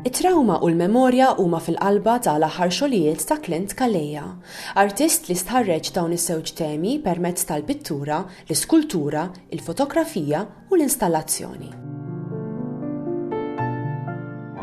It-trawma u l-memorja huma fil-qalba ta' l-aħħar xogħlijiet ta' Clint Calleja, artist li stħarreġ dawn iż-żewġ temi permezz tal-pittura, l-iskultura, il-fotografija u l-installazzjoni.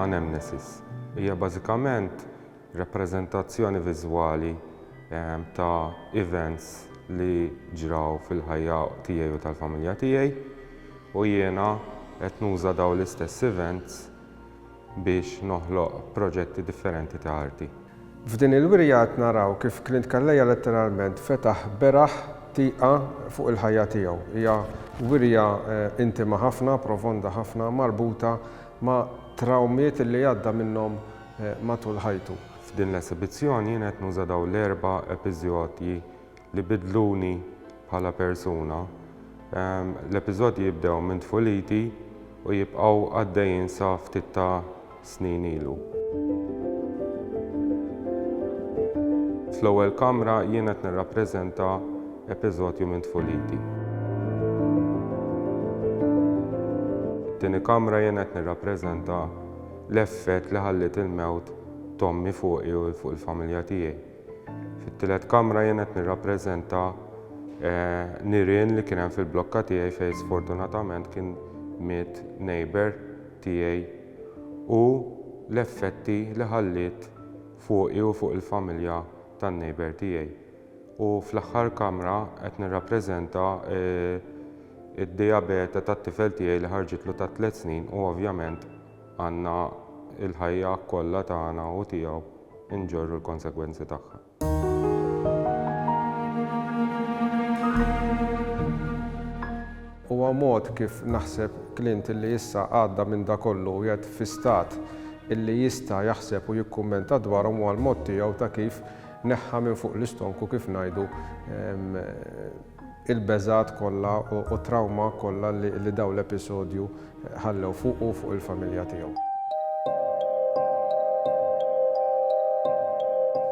Anamnesis hija bażikament Rappreżentazzjoni viżwali ta' events li ġraw fil-ħajja tiegħi u tal-familja tiegħi u jiena qed nuża dawn l-istess events biex noħloq proġetti differenti ta' arti. F'din il-wirja qed naraw kif Clint Calleja letteralment fetaħ beraħ tieqa fuq il-ħajja tiegħu. Hija wirja intima ħafna, profonda ħafna, marbuta ma' trawmiet li għadda minnhom matul ħajtu. F'din l-esibizzjoni jien qed nuża dawn l-erba' epiżodji li biddluni bħala persuna. L-epiżodji jibdew minn tfuliti u jibqgħu għaddejjin sa ftit ta' snin ilu. Fl-ewwel kamra jien qed nirrappreżenta epiżodju minn tfuliti. It-tieni kamra jien qed nirrappreżenta l-effett li ħalliet il-mewt t'ommi fuqi u fuq il-familja tiegħi. Fit-tielet kamra jien qed nirrappreżenta nirien li kien hemm fil-blokka tiegħi fejn sfortunatament kien miet neighbour tiegħi u l-effetti li ħalliet fuqi u fuq il-familja tan-neighbour tiegħi. U fl-aħħar kamra qed nirrappreżenta d-dijabete tat-tifel tiegħi li ħarġitlu ta' tliet snin u ovvjament Għandna l-ħajja kollha tagħna u tiegħu nġorru l-konsegwenzi tagħha. Huwa mod kif naħseb Clint illi issa għadda minn dak kollu u qiegħed fi stat illi jista' jaħseb u jikkummenta dwarhom huwa l-mod tiegħu ta' kif neħħa minn fuq l-istonku kif ngħidu il-beżgħat kollha u t-trawma kollha li dawn l-episodju ħallew fuqu u fuq il-familja tiegħu.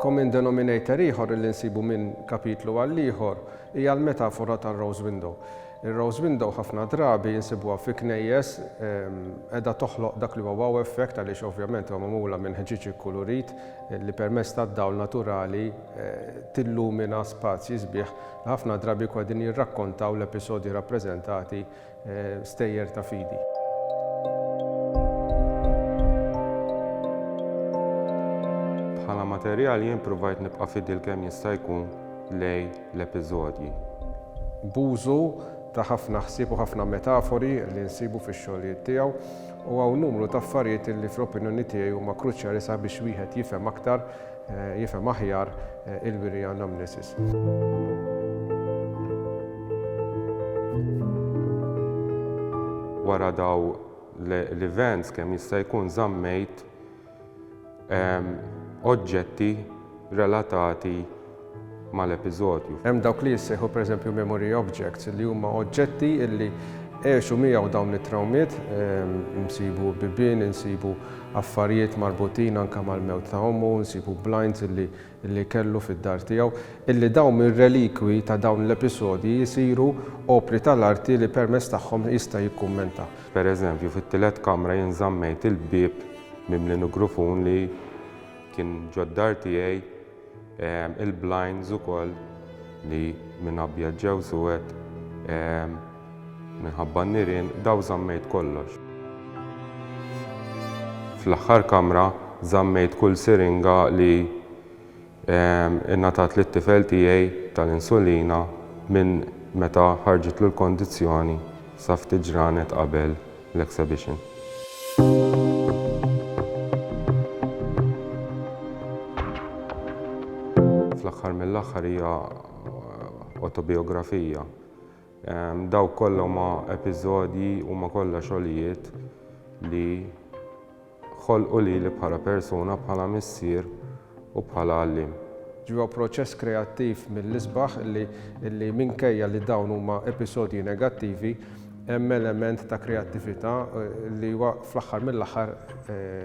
Common denominator ieħor li nsibu minn kapitlu għal ieħor hija l-metafora tar-rose window. Ir-rose window ħafna drabi nsibuha fi knejjes qiegħda toħloq dak li huwa wow effect għaliex ovvjament huwa magħmula minn ħġieġ ikkulurit li permezz tad-dawl naturali tillumina spazji sbieħ Ħafna drabi jkunu qegħdin jirrakkontaw l-episodji rappreżentati stejjer ta' fidi. Bħala materjal jien provajt nibqa' fidil kemm jista' jkun lejn l-episodji. B'użu ta' ħafna ħsieb u ħafna metafori li nsibu fix-xogħlijiet tiegħu u hawn numru ta' affarijiet li fl-opinjoni tiegħi huma kruċjali sabiex wieħed jifhem aktar jifhem aħjar il-wiri anamnesis. wara dawn l-events kemm jista' jkun żammejt ehm, oġġetti relatati mal-episodju. Hemm dawk li jissejħu pereżempju memory objects li huma oġġetti li għexu miegħu dawn it-trawmiet, insibu bibien, insibu affarijiet marbutin anke mal-mewt ta' ommu, insibu blinds li kellu fid-dar tiegħu, illi dawn mir-relikwi ta' dawn l-episodji jsiru opri tal-arti li permezz tagħhom jista' jikkummenta. Pereżempju, fit-tielet kamra jien żammejt il-bieb mimli nugrufun li kien ġod-dar tiegħi, Il-blinds ukoll li minn abjad ġew suwed minħabba n-nirien, dawn żammejt kollox. Fl-aħħar kamra żammejt kull siringa li ngħatat lit-tifel tiegħi tal-insulina minn meta ħarġitlu l-kondizzjoni sa ftit ġranet qabel l-exhibition. Fl-aħħar mill-aħħar hija autobiografija. Ehm, daw kollha ma episodji u ma kollha xogħlijiet li Ħolqu lili bħala persuna, bħala missier u bħala għalliem. Ġewwa proċess kreattiv mill-isbaħ li minkejja li dawn huma episodji negattivi, hemm element ta' kreattività li huwa fl-aħħar mill-aħħar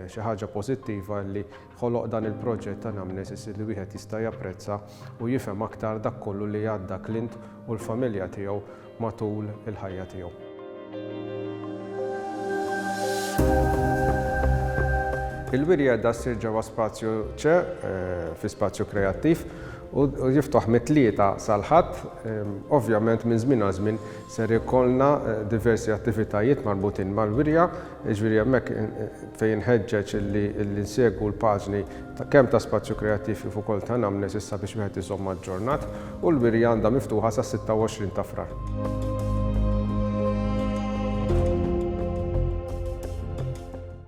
xi ħaġa pożittiva li ħoloq dan il-proġett Anamnesis li wieħed jista' japprezza u jifhem aktar dak kollu li għadda Clint u l-familja tiegħu matul il-ħajja tiegħu. Il-wirja qiegħda ssir ġewwa spazju ċe, fi spazju kreattiv, u jiftuħ mit-Tlieta sal-Ħadd. Ovvjament minn żmien għal żmien ser ikollna diversi attivitajiet marbutin mal-wirja, jiġifieri hemmhekk fejn inħeġġeġ li nsegwu l-paġni Kemm ta' spazju kreattiv kif ukoll ta' anamnesi sabiex wieħed iżomm aġġornat u l-wirja għandha miftuħa sas-26 ta' Frar.